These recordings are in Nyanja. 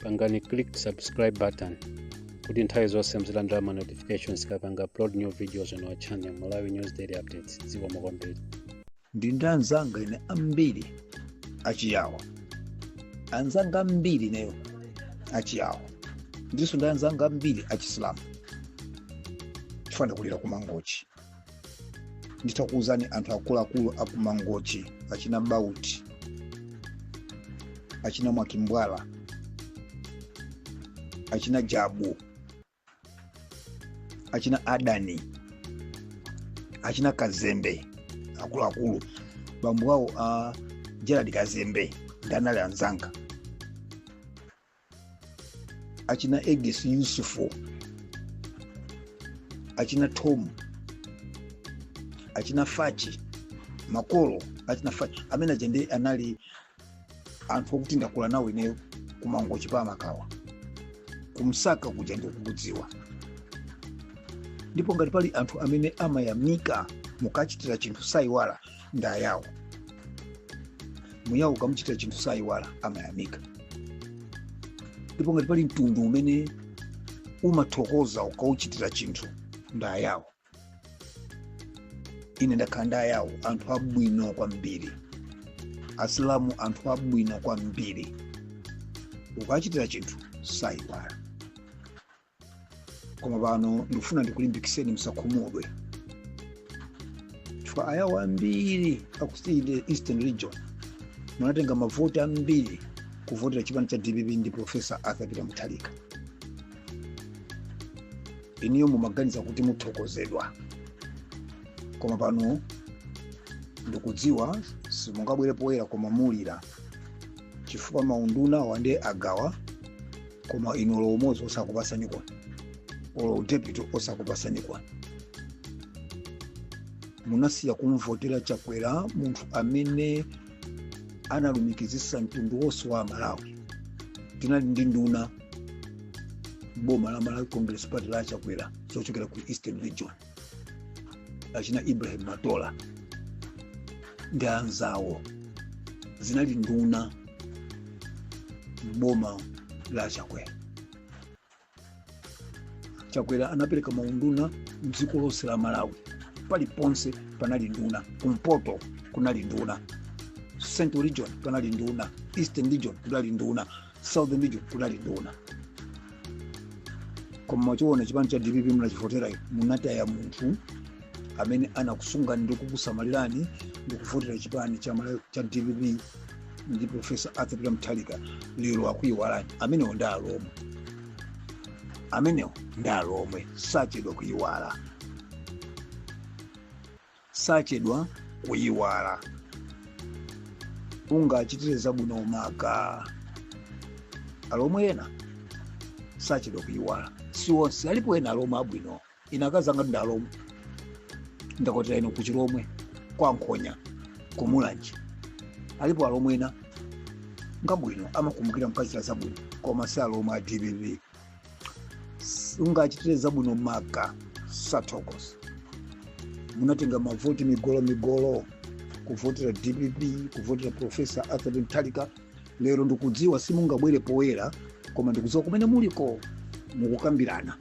pangani click subscribe button kuti nthawi zonse muzilandira ma notifications tikapanga upload new videos on our channel malawi news daily updates zikomo kwambiri ndi ndi anzanga ine ambiri achiyawo anzanga ambiri ineyo achiyawo ndinso ndi anzanga ambiri achisilamu chifukwa ndakulira kumangochi nditakuwuzani anthu akuluakulu akumangochi achina bauti achina mwakimbwala achina jabu achina adani achina kazembe akuluakulu bambo wawo a gerald kazembe nde anali anzanga achina egis yusufu achina tom achina fachi makolo achina fachi amene aja nde anali anthu okuti ndakula nawo ineyo kumangochi pa makawa kumsaka kuja ndikukudziwa ndipo ngati pali anthu amene amayamika mukachitira chinthu sayiwala ndi ayawo muyawo ukamuchitira chinthu sayiwala amayamika ndipo ngati pali mtundu umene umathokoza ukauchitira chinthu ndi ayawo ine ndakhala ndi ayawo anthu abwino kwambiri asilamu anthu abwino kwambiri ukachitira chinthu sayiwala koma pano ndikufuna ndikulimbikiseni musakhumudwe chifukwa ayawo ambiri aku side ya eastern region munatenga mavoti ambiri kuvotera chipani cha dpp ndi profesa arthur peter mutharika inuyo mumaganiza kuti muthokozedwa koma pano ndikudziwa simungabwere poyera koma mukulira chifukwa maundunawa nde agawa koma inu olo umodzi osakupasani kwa olo udepiti osakupasani kwa munasiya kumvotera chakwera munthu amene analumikizisa mtundu wonse wa malawi tinali ndi nduna m'boma la malawi congress party la chakwera zochokera ku eastern region achina ibrahim matola ndi anzawo zinali nduna m'boma la chakwera chakwera anapereka maunduna mdziko lonse la malawi paliponse panali nduna kumpoto kunali nduna central region panali nduna eastern region kunali nduna southern region kunali nduna koma mwachionera chipani cha dpp mnachivotera munataya munthu amene anakusungani ndi kukusamalirani ndi kuvotera chipani cha dpp ndi profesa arthur peter mutharika lero akuyiwalani amenewo ndi alomwe amenewo ndi alomwe sachedwa kuyiwala sachedwa kuyiwala ungachitire zabwino maka alomwe ena sachedwa kuyiwala si onse alipo ena alomwe abwino ine akazanga ndi alomwe ndakwatira ino kuchilomwe kwa nkhonya kumulanje alipo alomwe ena ngabwino amakumbukira mkachitira zabwino koma si alomwe a dpp ungachitire zabwino maka satokos munatenga mavoti migolo migolo kuvotera dpp kuvotera profesa arthur mutharika lero ndikudziwa simungabwere poyera koma ndikudziwa kumene muliko mukukambirana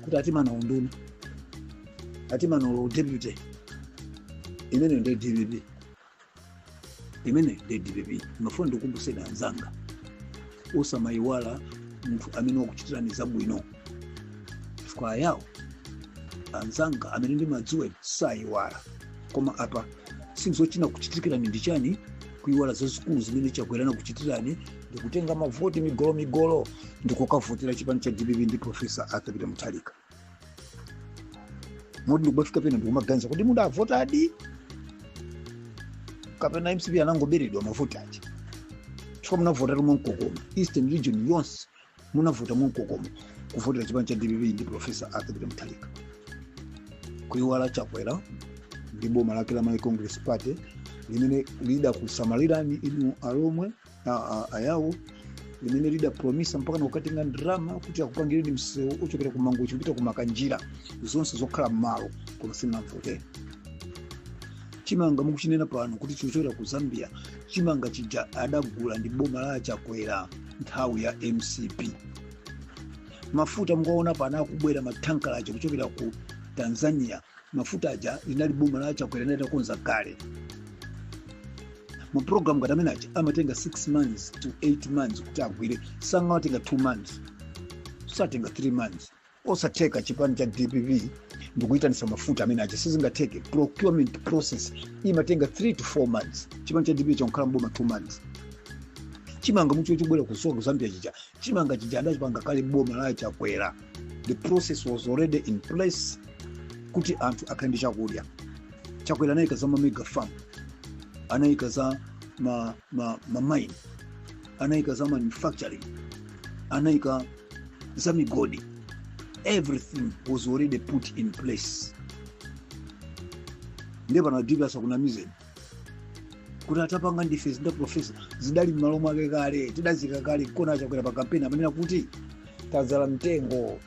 kuti atimana unduna atimana u deputy imeneyo ndi dpp imene ndi dpp mmafuna ndikumbuseni anzanga osamayiwala munthu amene wakuchitirani zabwino chifukwa ayawo anzanga amene ndimadziwa sayiwala koma apa sizochina kuchitirikirani ndi chani kuyiwala zazikulu zimene chakwera anakuchitirani ndikutenga mavoti migolo migolo ndikukavotera chipani cha dpp ndi profesa arthur peter mutharika moti ndikubafika pena ndikumaganiza kuti mudavotadi kapena mcp anangoberedwa mavoti aja chifukwa munavota mwamkokomo eastern region yonse munavota mwamkokomo kuvotera chipani cha dpp ndi profesa arthur peter mutharika kuiwala chakwera ndi boma lake la malawi congress party limene lidakusamalirani inu alomwe ayawo limene lidapromisa mpaka kukatenga ndalama kuti akupangireni msewu ochokera ku mangochi kupita ku makanjira zonse zokhala m'malo koma simunamvotere chimanga mukuchinena pano kuti chikuchokera ku zambia chimanga chija adagula ndi boma la chakwera nthawi ya mcp mafuta mukuwaona pano akubwera matankala aja kuchokera ku tanzania mafuta aja linali boma la chakwera linali litakonza kale mapulogalamu ngati amene aja amatenga 6 months to 8 months kuti agwire sangamatenge 2 months satenga 3 months osatheka chipani cha dpp ndikuyitanisa mafuta amene aja sizingatheke procurement process imatenga 3 to 4 months chipani cha dpp changokhala mboma 2 months chimanga mukuchiona chikubwera kuchoka kuzambia chija chimanga chija adachipanga kale boma la chakwera the process was already in place kuti anthu akhale ndi chakudya chakwera anayika za mamega farm anayika za mamine anayika za manufacturing anayika za migodi everything was already put in place ndiye pano a dpp asakunamizeni kuti tapanga ndife zinthu profesa zidali m'malo mwake kale tidaziika kale kona achakwera pa kampeni amanena kuti tadzala mtengo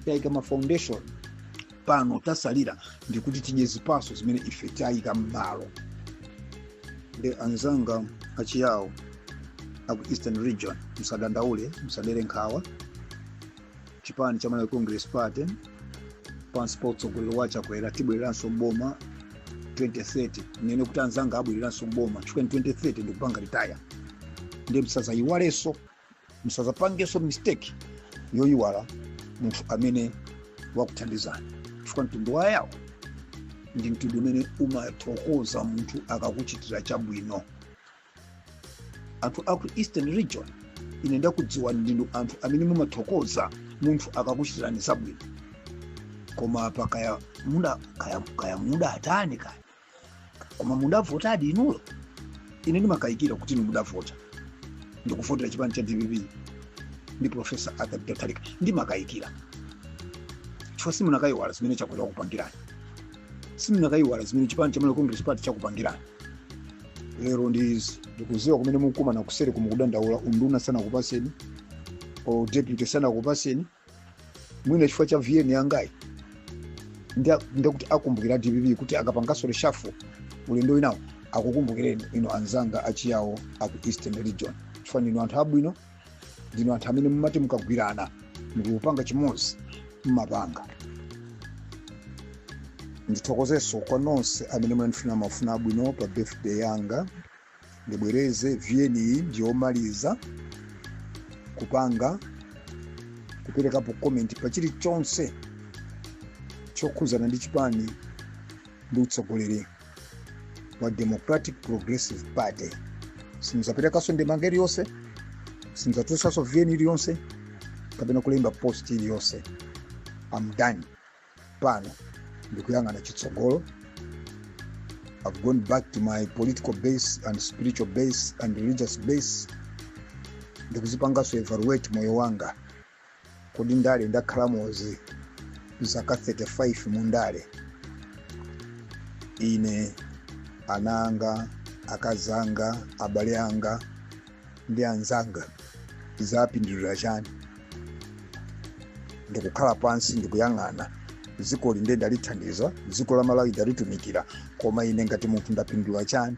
tayika ma foundation pano tatsalira ndikuti tidye zipaso zimene ife tayika m'malo ndi anzanga achiyawo aku eastern region msadandaule msadere nkhawa chipani cha malawi congress party pansi pa utsogoleri wa chakwera tibwereranso mboma 2030 mmene kuti anzanga abwereranso mboma chifukwa ine 2030 ndikupanga retire ndiye msazayiwalenso msazapangenso mistake yoyiwala munthu amene wakuthandizani chifukwa mtundu wa yawo ndi mtundu umene umathokoza munthu akakuchitira chabwino anthu aku eastern region ine ndakudziwa ndinu anthu amene mumathokoza munthu akakuchitirani zabwino koma apa kaya kaya mudatani kaya koma mudavotadi inuyo ine ndimakayikira kuti inu mudavota ndikuvotera chipani cha dpp ndi profesa arthur mutharika ndimakayikira chifukwa simunakayiwala zimene chakwera wakupangirani simunakayiwala zimene chipani cha malawi congress party chakupangirani lero ndi izi ndikuziwa kumene mukumana kuseriko mukudandaula unduna sanakupaseni or deputy sanakupaseni mwina chifukwa cha vn yangayi ndikuti akumbukira a dpp kuti akapangaso reshuffle ulendo winawo akukumbukireni inu anzanga achiyawo aku eastern region chifukwa ndinu anthu abwino ndinu anthu amene mumati mukagwirana ndikuti mupange chimodzi mmapanga ndithokozenso kwa nonse amene mwandifunira mafuna abwino pa birthday yanga ndibwereze vn iyi ndiyomaliza kupanga kuperekapo comment pa chilichonse chokhudzana ndi chipani ndi utsogoleri wa democratic progressive party sindidzaperekaso ndemanga iliyonse sindidzatulutsaso vn iliyonse kapena kulemba post iliyonse I'm done pano ndikuyang'ana chitsogolo i've gone back to my political base and spiritual base and religious base ndikuzipangaso evaluate moyo wanga kodi ndale ndakhalamo izi zaka 35 mu ndale ine ana anga akazi anga abale anga ndi anzanga zapindulira chani ndikukhala pansi ndikuyang'ana dzikoli nde ndalithandiza dziko la malawi ndalitumikira koma ine ngati munthu ndapindula chani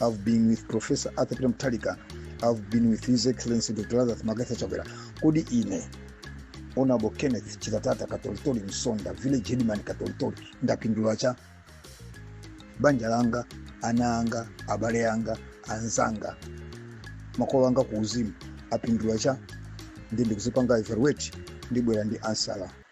I've been with Professor Arthur Peter Mutharika. I've been with His Excellency Dr. Lazarus McCarthy Chakwera. Kodi ine Honorable Kenneth Chitatata Katolitori Msonda, Village Headman Katolitori, ndapindula cha banja langa, ana anga, abale anga, anzanga, makolo anga kuuzimu apindula chani ndikuzipanga evaluate ndibwera ndi answer